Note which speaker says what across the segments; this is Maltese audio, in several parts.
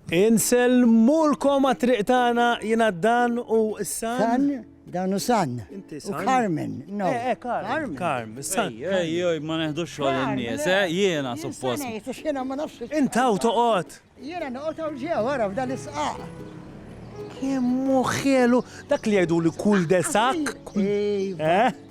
Speaker 1: Insellmulkom għat-triq tagħna jiena Dan u San. San, Dan u
Speaker 2: San. Inti San. Carmen, no.
Speaker 1: Eh,
Speaker 2: eh, Carmen. Carmen,
Speaker 1: San. Ej, ej, ma neħdux
Speaker 3: xogħol in-nies, eh, jiena suppost. Jiena ma nafx.
Speaker 2: Intaw toqgħod.
Speaker 1: Jiena noqgħod hawn
Speaker 2: ġew wara f'dan is-sqaq. Kemm
Speaker 1: ħelu dak li jgħidu li kull desak. Eh?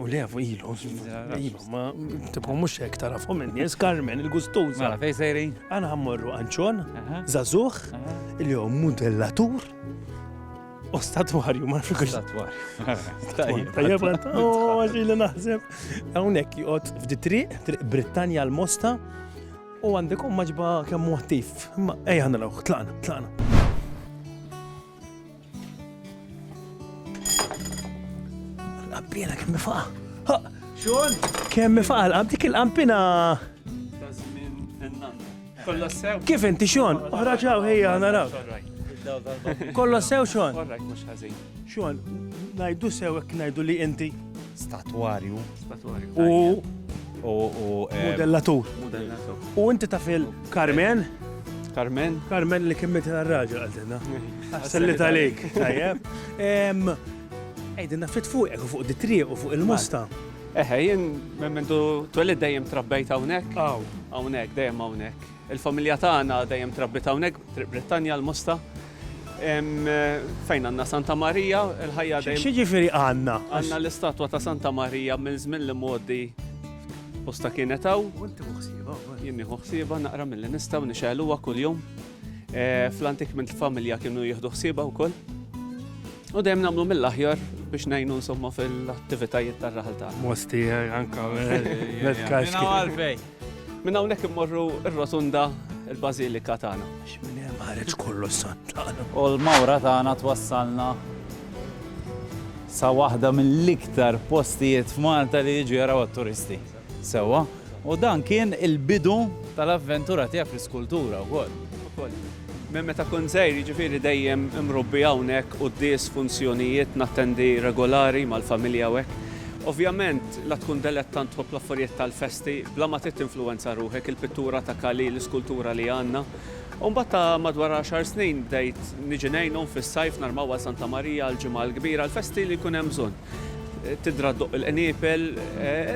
Speaker 3: U le, ilu,
Speaker 1: ilu, ma tipu mux hekk tarafhom in-nies, Carmen, il-gustuża. Mela, fej sejrin?
Speaker 3: Għana ħammorru għanċon,
Speaker 1: zazuħ, li hu modellatur, U statwarju, ma nafx statwarju.
Speaker 3: Tajjeb,
Speaker 1: tajjeb, għaxi li naħseb. Għawnek jgħot f'di triq, triq Britannia l-Mosta, u għandek maġba kemm muħtif. Ma ejja ħanna l-għu, tlaqna, tlaqna. L-qampina kemm faqa. Xun?
Speaker 3: Kemm faqa l-qamp
Speaker 1: dik il-qampina.
Speaker 3: Kolla sew. Kif inti xun? Oħra
Speaker 1: ġaw ħejja naraw. Kolla sew xun?
Speaker 3: Xun,
Speaker 1: najdu sew ek najdu li inti. Statwarju.
Speaker 3: Statwarju. U.
Speaker 1: U. U. Eh, modellatur. Modellatur. U inti tafil. Carmen? Carmen? Carmen li kien mitila r-raġel għaltinna. Sallit għalik, tajjeb. Ejdinna fit fuqek u fuq ditriq u fuq il-musta. Eħe, jien
Speaker 4: memmentu twelid dejjem trabbejt hawnhekk. Aw. Hawnhekk, dejjem hawnhekk. Il-familja tagħna dejjem trabbit hawnhekk, Triq Brittanja l-Musta. Fejn għandna Santa Marija, il-ħajja dejjem. Xi ġifieri għandna?
Speaker 1: Għandna l-istatwa ta'
Speaker 4: Santa Marija minn żmien l-imgħoddi. Posta kienet hawn. Inti ħsieba. Jien nieħu ħsieba naqra milli nistgħu nixgħeluha kuljum. Eh, Fl-antik minn familja kienu jieħdu ħsieba wkoll. U dejjem nagħmlu mill-aħjar biex ngħinu insomma fil-attivitajiet tar-raħal tagħna. Mosti eh, anka
Speaker 1: l-kaxki.
Speaker 3: Minn
Speaker 4: hawnhekk immorru r-rotunda il-Bażilika tagħna. Minn hemm ħareġ
Speaker 1: kollu s-Santana. U l-mawra tagħna
Speaker 3: twassalna sa waħda mill-iktar postijiet f'Malta li jiġu jaraw għat-turisti. Sewa, u dan kien il-bidu tal-avventura tiegħek fl-iskultura wkoll. Minn meta
Speaker 4: kun żgħir, jiġifieri dejjem imrubbi hawnhekk u d-dies funzjonijiet nattendi regolari mal-familja hekk. Ovvjament, La tkun delettant tħobb l-affarijiet tal-festi, bla ma trid tinfluwenza ruħek, il-pittura ta' Kali, l-iskultura li għandna. U mbagħad ta' madwar għaxar snin bdejt niġi ngħinhom fis-sajf nhar Magħwal Santa Marija għall-Ġimgħa l-Kbira, l-festi li jkun hemm bżonn. Tidra ddoqq il-qniepel,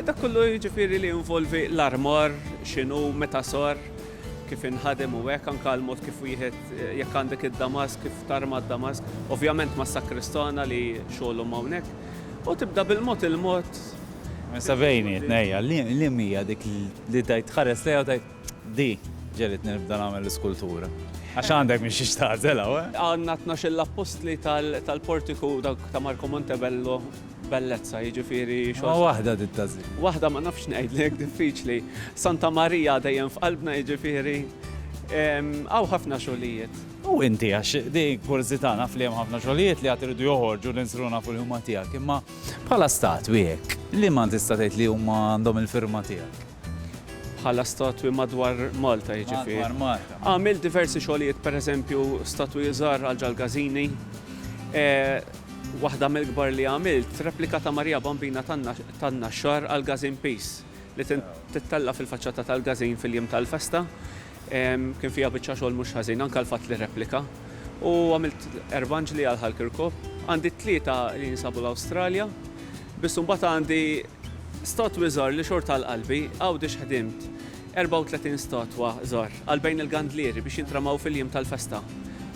Speaker 4: dak kollu jiġifieri li jinvolvi l-armar, x'inhu, meta sar, kif inħadem u hekk, anke l-mod kif wieħed, jekk għandek id-damask, kif tarma d-damask, ovvjament mas-sakristana li xogħolhom hawnhekk. U tibda bil-mod il-mod. Issa
Speaker 3: bejni, tnejja, liem hija dik li tgħid tħares lejha u tgħid, di ġegħlitni nibda nagħmel l-iskultura? Għax għandek minn xiex tagħżel hawn, eh! Għandna t-tnax-il
Speaker 4: appostli tal-portiku dawk ta' Marco Montebello, bellezza, jiġifieri xogħol. Imma waħda trid
Speaker 3: tagħżilha. Waħda ma nafx
Speaker 4: ngħidlek, diffiċli. Santa Marija dejjem f'qalbna jiġifieri hawn ħafna xogħlijiet. U inti, għax
Speaker 3: di kurżità naf li hemm ħafna xogħlijiet li għad iridu joħorġu li nsiru nafu li huma tiegħek, imma bħala statwi hekk, liema tista' tgħid li huma għandhom il-firma tiegħek? Bħala
Speaker 4: statwi madwar Malta jiġifieri? Madwar Malta. Għamilt
Speaker 3: diversi xogħlijiet,
Speaker 4: pereżempju statwi żgħar għal ġall-Gażini. Waħda mill-kbar li għamilt, replika ta' Marija Bambina tan-Naxxar għall-Gażin Peace li tittella' fil-faċċata tal-Gażin fil-jiem tal-festa. Kien fiha biċċa xogħol mhux ħażin, anke l-fatt li rreplika. U għamilt erbanġli għal Hal Kirkop. Għandi t-tlieta li jinsabu l-Awstralja, biss imbagħad għandi statwi żgħar li xorta għal qalbi, Għawdex ħdimt 34 statwa żgħar għal bejn il-gandlieri biex jintramaw fil-jiem tal-festa.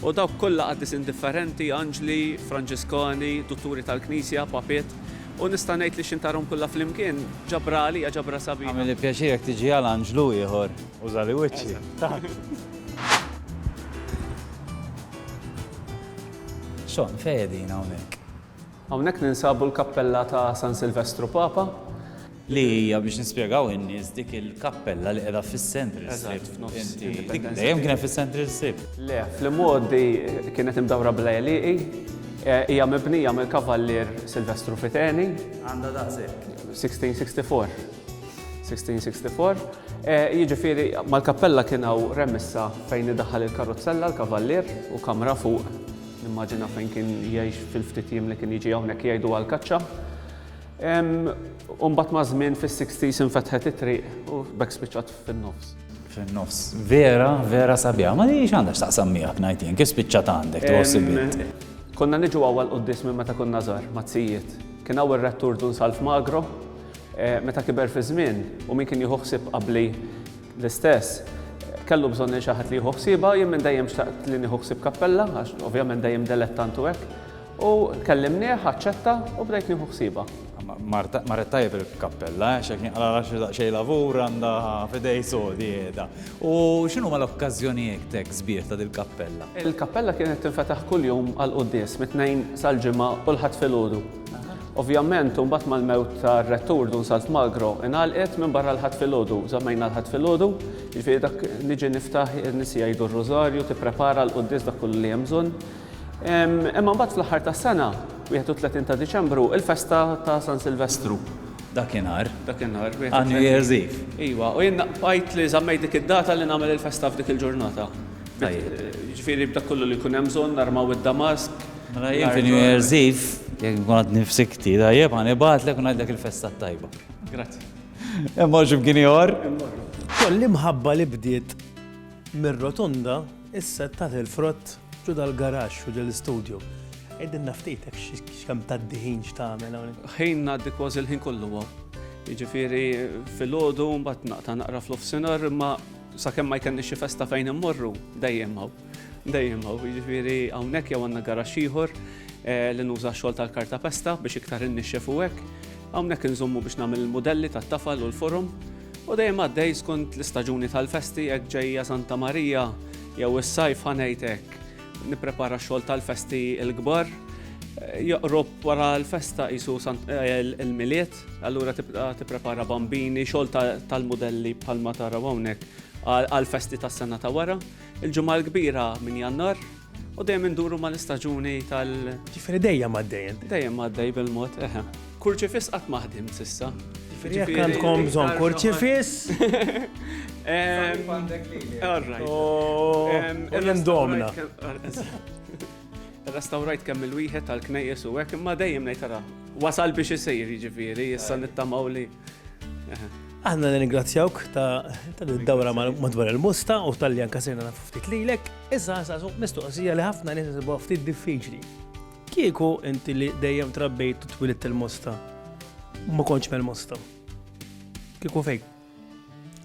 Speaker 4: U dawk kollha qaddis indifferenti, anġli, Franġiskani, dutturi tal-Knisja, papiet. U nista' ngħid li xintarhom kollha flimkien ġabra għalija ġabra sabiħa. Jagħmilli pjaċir jekk tiġi
Speaker 3: għal anġlu ieħor. Użali wiċċi. Xon, fejedin hawnhekk. Hawnhekk
Speaker 4: ninsabu l-kappella ta' San Silvestru Papa, li hija
Speaker 3: biex nispjegaw in-nies dik il-kappella li qiegħda fis-Central Strip. Dik dejjem kienet
Speaker 4: fis-Central
Speaker 3: Strip.
Speaker 4: Le,
Speaker 3: fl-immoddi kienet imdawra
Speaker 4: bla
Speaker 3: eliqi,
Speaker 4: eh, hija mibnija mill-Kavallier Silvestru Fiteni. Għandha
Speaker 3: daqshekk. 1664.
Speaker 4: 1664, jiġifieri mal-kappella kien hawn remissa fejn idaħħal il-karuzzella l-kavallier u kamra fuq, nimmaġina fejn kien jgħix fil-ftit jiem li kien jiġi hawnhekk jgħidu għall-kaċċa. U mbagħad maż-żmien fis-60s infetħet it-triq u b'hekk spiċċat fin-nofs. Fin-nofs.
Speaker 3: Vera, vera sabiħa. Ma hi x'għandha x'taqsam miegħek ngħid jien, kif spiċċat għandek tħoss bint? Konna niġu
Speaker 4: hawn għall-quddies minn meta konna żgħar, mat-tzijiet. Kien hawn ir-rettur Dun Salv Magro, Meta kiber fiż-żmien u min kien jieħu ħsieb qabli l-istess kellu bżonn lil xi ħadd li jieħu ħsiebha, jien minn dejjem xtaqt li nieħu ħsieb kappella għax ovvjament dejjem delettant u hekk. U kellimnieh, aċċetta u bdejt nieħu ħsiebha. Marret
Speaker 3: tajjeb il-kappella, għax jekk jinqala' raxxi daqsxejn lavur għandha f'idej sodi qiegħda. U x'inhuma l-okkażjonijietek sbieħ ta' dil-kappella? Il-kappella kienet
Speaker 4: tinfetaħ kuljum għall-quddies, mit-Tnejn sal-Ġimgħa u l-Ħadd filgħodu. Ovvjament, imbagħad mal-mewt tar-rettur Dun Salt Magro ingħalqet minn barra l-Ħadd filgħodu, żammejna l-Ħadd filgħodu, jiġifieri dak niġi niftaħ in-nies jgħidu r-Rużarju, tipprepara l-quddies dak kollu li hemm bżonn. Imma mbagħad fl-aħħar tas-sena, 31 ta' Diċembru, il-festa ta' San Silvestru. Dakinhar?
Speaker 3: Dakinhar. Ah,
Speaker 4: New Year's Eve.
Speaker 3: Iva, u jien
Speaker 4: bqajt li żammejt dik id-data li nagħmel il-festa f'dik il-ġurnata. Ġifieri b'dak kollu li jkun hemm bżonn narmaw id-damask, Mela jien fi
Speaker 3: New Year's Eve, jekk nkun għadni f'sikti tajjeb, ħa nibgħatlek u ngħidlek il-festa t-tajba. Grazzi.
Speaker 4: Hemm hawn xi
Speaker 3: bkien ieħor? Koll
Speaker 1: l-imħabba li bdiet mir-rotonda issa tat il-frott ġo dal-garaxx u ġol-istudju. Għidilna ftit hekk x'kemm tgħaddi ħin x'tagħmel hawnhekk. Ħin ngħaddi kważi
Speaker 4: l-ħin kollu hawn. Jiġifieri filgħodu mbagħad naqta' naqra fl-offsinar imma sakemm ma jkellniex xi festa fejn immorru dejjem hawn. Dejjem hawn, jiġifieri hawnhekk jew għandna garaxx ieħor li nuża x-xogħol tal-kartapesta biex iktar innixxef u hekk. Hawnhekk inżommu biex nagħmel il-mudelli tat-tafal u l-forom. U dejjem għaddej skont l-istaġuni tal-festi, hekk ġejja Santa Marija jew is-sajf ħa ngħid hekk. Nipprepara x-xogħol tal-festi l-kbar. Joqrob wara l-festa qisu l-Milied, allura tibda tipprepara bambini, xogħol tal-mudelli bħalma taraw hawnhekk għall-festi tas-sena ta' wara. Il-Ġimgħa l-Kbira minn Jannar u dejjem induru mal-istaġuni tal. Ġifieri dejjem għaddejjem.
Speaker 1: Dejjem għaddej bil-mod,
Speaker 4: eħe. Kurċifiss qatt maħdim sissa. Jekk
Speaker 1: għandkom bżonn kurċifis. Indomna.
Speaker 4: Restawrajt kemm il-wieħed tal-knejjes u hekk imma dejjem ngħid tara. Wasal biex isir jiġifieri, issa nittamaw li.
Speaker 1: Aħna ningrazzjawk ta' dawra madwar il-musta u tal-li anka sirna nafu ftit lilek, issa nsasu mistoqsija li ħafna nies isibu ftit diffiċli. Kieku inti li dejjem trabbejt u twilit il-musta, ma konċ mel-musta. Kieku fejk?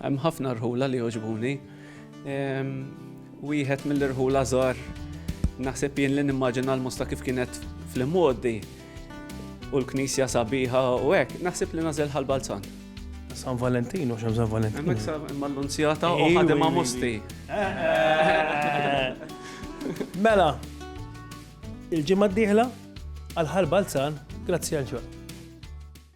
Speaker 1: Hemm
Speaker 4: ħafna rħula li joġbuni. Ehm, wieħed mill-irħula żgħar naħseb jien li nimmaġina l-musta kif kienet fl-immoddi U l-knisja sabiħa u hekk, naħseb li nażel ħal-Balzan. San
Speaker 1: Valentin, u xem San Valentin. Emmek sa mal-lunzjata
Speaker 4: u ħadem ma' musti.
Speaker 1: Mela, il-ġimma d-dihla għal-ħal Balzan, grazzi għal